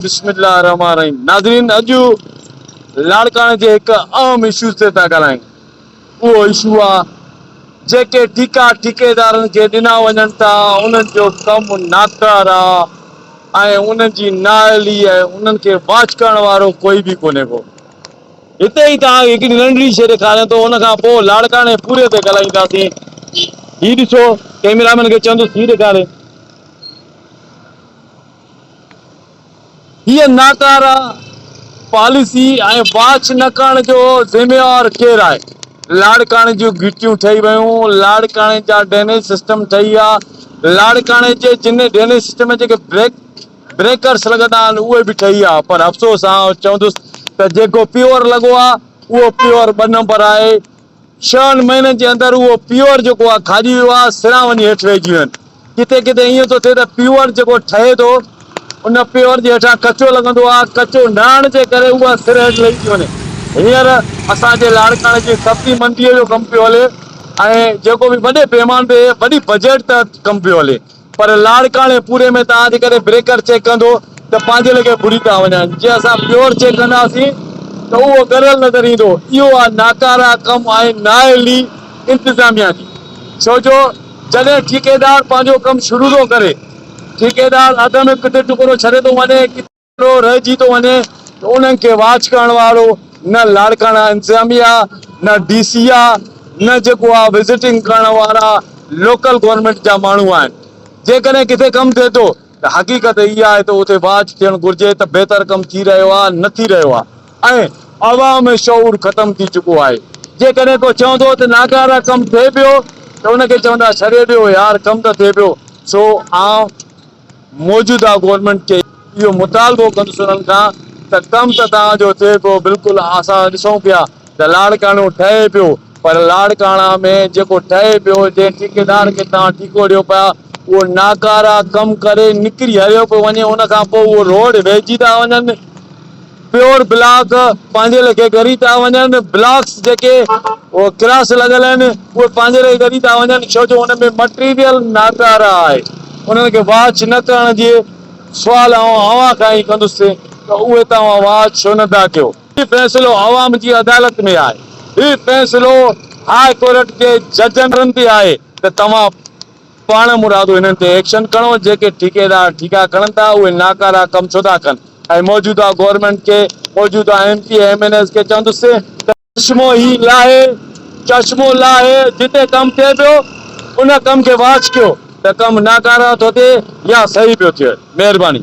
بسم الله الرحمٰن الرحيم ناظرين اڄ لاڙڪاڻي جي هڪ اهم اشو تي ٿا ڳالهايون اهو اشو آ جيڪي ٺيڪا ٺيڪيدارن کي ڏنا وڃن ٿا انهن جو ڪم ناڪار آ ۽ انهن جي نااهلي ۽ انهن کي واچ ڪرڻ وارو ڪوئي به ڪونهي ڪو هتي ئي توهان کي هڪڙي ننڍڙي شيء ڏيکاريان ٿو ان کان پوء لاڙڪاڻي پوري تي ڳالهائينداسين هي ڏسو ڪيميرا مين کي چوندس هي ڏيکاري. هيء ناڪاره پاليسي ۽ واچ نه ڪرڻ جو ذميوار ڪير آهي؟ لاڙڪاڻي جون گهٽيون ٺهي ويون، لاڙڪاڻي جا ڊرينيج سسٽم ٺهي ويا، لاڙڪاڻي جي جن ڊرينيج سسٽم جي جيڪي بريڪرس لڳندا آهن اهي به ٺهي ويا پر افسوس آئون چوندس ته جيڪو پيور لڳو آهي اهو پيور ٻه نمبر آهي. ڇهن مهينن جي اندر اهو پيور جيڪو آهي کاڄي ويو آهي، سران وڃي هيٺ وهجي ويون. ڪٿي ڪٿي ائين ٿو ٿئي ته پيور جيڪو ٺهي ٿو، ان پيور جي هيٺان ڪچو لڳندو آهي، ڪچو نه هئڻ جي ڪري اها سر هيٺ لهي ٿي وڃي. هينئر اسان جي لاڙڪاڻي جي سبزي منڊيء جو ڪم پيو هلي ۽ جيڪو به وڏي پيماني تي وڏي بجيٽ تحت ڪم پيو هلي. پر لاڙڪاڻي پوري ۾ توهان جي ڪڏهن بريڪر چيڪ ڪندو ته پنهنجي ليکي ڀري ٿا وڃن جي اسان پيور چيڪ ڪنداسين ته اهو ڳريل نظر ايندو اهو آ ناڪارا ڪم آهن نااهلي انتظاميا جي ڇو جو جڏهن ٺيڪيدار پنهنجو ڪم شروع ٿو ڪري ٺيڪيدار اڌ ۾ ڪٿي ٽڪرو ڇڏي ٿو وڃي ڪٿي اهڙو رهجي ٿو وڃي ته انهن کي واچ ڪرڻ وارو نه لاڙڪاڻا انتظاميا، نه ڊي سي آ، نه جيڪو آ وزٽنگ ڪرڻ وارا لوڪل گورنمينٽ جا ماڻهو آهن. جيڪڏهن ڪٿي ڪم ٿئي ٿو ته حقيقت اها آهي ته اتي واچ ٿيڻ گهرجي ته بهتر ڪم ٿي رهيو آ نه ٿي رهيو آ ۽ عوام ۾ شعور ختم ٿي چڪو آهي. جيڪڏهن ڪو چوندو ته ناڪاره ڪم ٿئي پيو ته ان کي چوندا ڇڏي ڏيو يار ڪم ته ٿئي پيو سو آئون موجوده گورنمينٽ کي اهو مطالبو ڪندس انهن کان ته ڪم ته توهان جو ٿئي پيو بلڪل اسان ڏسون پيا ته لاڙڪاڻو ٺهي پيو پر لاڙڪاڻا ۾ جيڪو ٺهي پيو جنهن ٺيڪيدار کي توهان ٺيڪو ڏيو پيا اهو ناڪارا ڪم ڪري نڪري هليو پيو وڃي ان کان پوء اهو روڊ ويهجي ٿا وڃن پيور بلاڪ پنهنجي ليکي ڳري ٿا وڃن، بلاڪس جيڪي ڪراس لڳل آهن اهي پنهنجي ليکي ڳري ٿا وڃن ڇو جو ان ۾ مٽيريل ناڪاره آهي انهن کي واچ نه ڪرڻ جي سوال آئون اوهان کان ئي ڪندس ته اهي توهان واچ ڇو نه ٿا ڪيو. هي فيصلو عوام جي عدالت ۾ آهي، هي فيصلو هاء ڪورٽ جي ججن تي آهي ته توهان پاڻ مرادو انهن تي ايڪشن کڻو جيڪي ٺيڪيدار ٺيڪا کڻن ٿا اهي ناڪارا ڪم ڇو ٿا ڪن ۽ موجوده گورنمينٽ کي موجوده M P ۽ M N As کي چوندس ته چشمو هي لاهي چشمو لاهي جتي ڪم ٿئي پيو ان ڪم کي واچ ڪيو ته ڪم ناڪارا ٿو ٿئي يا صحيح پيو ٿئي مهرباني.